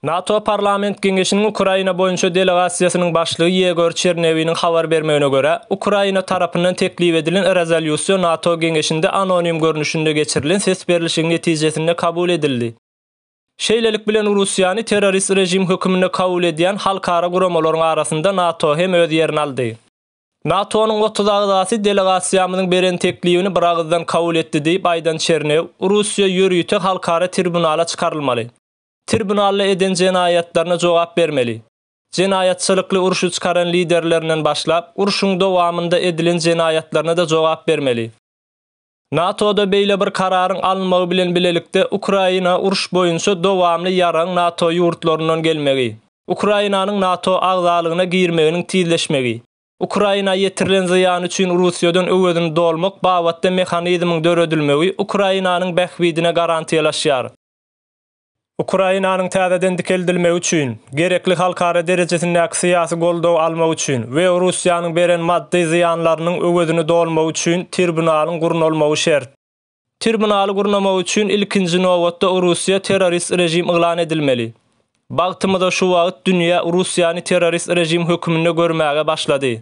NATO Parlament Geňeşiniň Ukraina boýunça delegasiýasynyň başlygy Ýegor Çernewiniň habar bermegine görä, Ukraina tarapyndan teklip edilen rezolýusiýa NATO Geňeşinde anonim görnüşinde geçirilen ses berlişigiň netijesinde kabul edildi. Şeýlelik bilen Russiýany terrorist režim hökmünde kabul edýän halkara guramalaryň arasynda NATO hem öz ýerini aldy. NATO-nyň otuz agzasy delegasiýamyzyň beren teklibini biragyzdan kabul etdi diýip aýdan Çernew, Russiýa ýörite halkara tribunala çykarylmaly. Tribunalda eden jenaýatlaryna jogap bermeli. Jenaýatçylykly urşy çykaran liderlerinden başlap, urşuň dowamynda edilen jenaýatlaryna-da jogap bermeli. NATO-da beýle bir kararyň alynmagy bilen bilelikde Ukraina uruş boýunça dowamly ýaragyň NATO ýurtlaryndan gelmegi, Ukrainanyň NATO agzalygyna girmeginiň tizleşmegi, Ukraina ýetirilen zyýan üçin Russiýadan öwezini dolmak babatda mehanizmiň döredilmegi Ukrainanyň bähbidine garantiýalaşýar. Ukrainanyň täzeden dikeldilmegi üçin gerekli halkara derejesindäki syýasy goldawy almak üçin we Russiýanyň beren maddy zyýanlarynyň öwezini dolmak üçin tribunalyň gurnalmagy şert. Tribunaly gurnamak üçin ilkinji nobatda Russiýa terrorist režim yglan edilmeli. Bagtymyza şu wagt dünýä Russiýany terrorist režim höküminde görmäge başlady.